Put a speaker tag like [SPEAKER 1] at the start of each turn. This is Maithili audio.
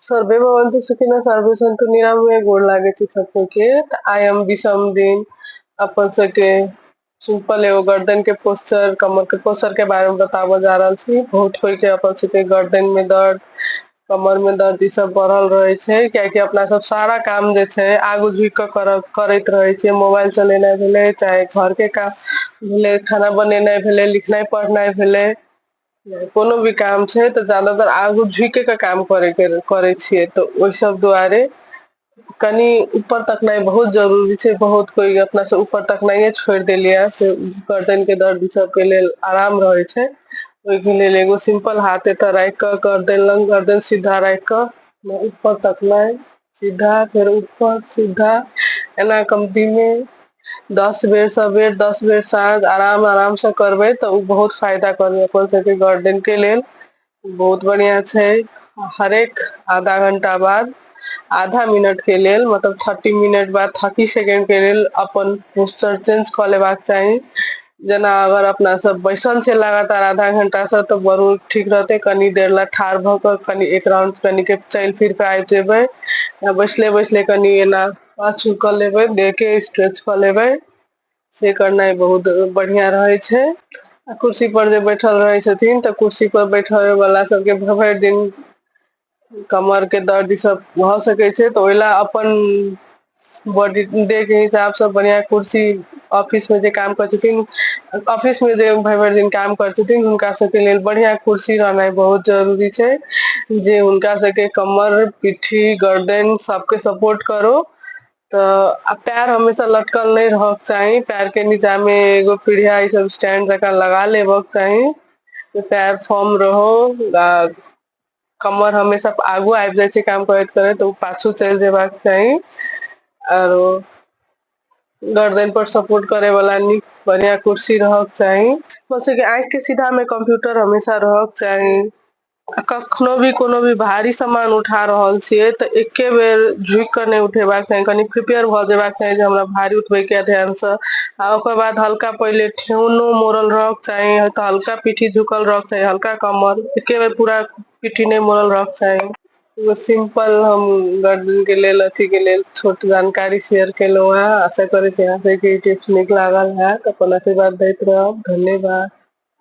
[SPEAKER 1] सर्वे भवंतु सुखिना सर्वे संतु निराम में गोड़ लागे छी सब के तो आई एम विषम दिन अपन सब के सिंपल एगो गर्दन के पोस्चर कमर के पोस्चर के बारे में बताबो जा रहा छी बहुत कोई के अपन सब के गर्दन में दर्द कमर में दर्द ई सब बढ़ल रहे छे क्या कि अपना सब सारा काम जे छे आगू झुक के कर, करत रहे छे मोबाइल चलेना भेले चाहे घर के काम भेले खाना बनेना भेले लिखना पढ़ना भेले कोनो भी काम छै तऽ जादातर आगू झुके के काम करे के करै छियै तऽ ओहि सब दुआरे कनि ऊपर तकनाइ बहुत जरूरी छै बहुत कोइ अपना से ऊपर तकनाइे छोड़ देलियै से गर्दन के दर्द सब के लेल आराम रहै छै ओहिके लेल एगो सिम्पल हाथ एतऽ राखि कऽ गर्दन लग गर्दन सीधा राखि कऽ ऊपर तकनाइ सीधा फेर ऊपर सीधा एना कम्पीमे दस बेर स बेर दस बेर साँझ आराम आराम से करबै तऽ ओ बहुत फायदा करबै अपन सबके गार्डेन के लेल बहुत बढ़िया छै हरेक आधा घंटा बाद आधा मिनट के लेल मतलब थर्टी मिनट बाद थर्टी सेकेंड के लेल अपन पोस्चर चेंज कऽ लेबाक चाही जेना अगर अपना सब बैसल छै लगातार आधा घंटा से तऽ बड़ ठीक रहते कनी देर ले ठाढ़ भऽ कऽ कनि एक राउंड कनि के चलि फिर कऽ आबि जेबै आ बैसले बैसले कनि एना पाछू कऽ लेबै देह के स्ट्रेच कऽ लेबै से करनाइ बहुत बढ़िया रहै छै आ कुर्सी पर जे बैठल रहै छथिन तऽ कुर्सी पर बैठल वाला सबके भरि दिन कमरके दर्द ईसभ भऽ सकै छै तऽ ओहि लए अपन बॉडी डे के हिसाब सँ बढ़िआँ कुर्सी ऑफिस मे जे काम करै छथिन ऑफिस मे जे भरि भरि दिन काम करै छथिन हुनका सभके लेल बढ़िआँ कुर्सी रहनाइ बहुत जरूरी छै जे हुनका सभके कमर पिठ्ठी गर्दन सभके सपोर्ट करो तऽ आ पैर हमेशा लटकल नहि रहयके चाही पैर के नीचा मे एगो पीढ़िया ई सब स्टैंड जकाँ लगा लेबक चाही पैर फॉर्म रहो आ कमर हमेशा आगू आबि जाइ छै काम करैत करैत ओ पाछू चलि जेबाक चाही आरो गरदनि पर सपोर्ट करे वाला नीक बढ़िया कुर्सी रहक चाही आँखि के सीधा मे कम्प्यूटर हमेशा रहक चाही आ कखनो भी कोनो भी भारी सामान उठा रहल छियै तऽ एके बेर झुकि कऽ नहि उठेबाक चाही कनि प्रिपेयर भऽ जेबाक चाही जे हमरा भारी उठबैके ध्यानसँ आ ओकर बाद हल्का पहिले ठेहुनो मोड़ल रहक चाही तऽ हल्का पीठी झुकल रहक चाही हल्का कमर एके बेर पूरा पीठी नहि मोड़ल रहक चाही एगो सिंपल हम गर्दन के लेल अथी के लेल छोट जानकारी शेयर केलहुँ है आशा करै छी अहाँ सबके टिप्स नीक लागल है अपन आशीर्वाद दैत रहब धन्यवाद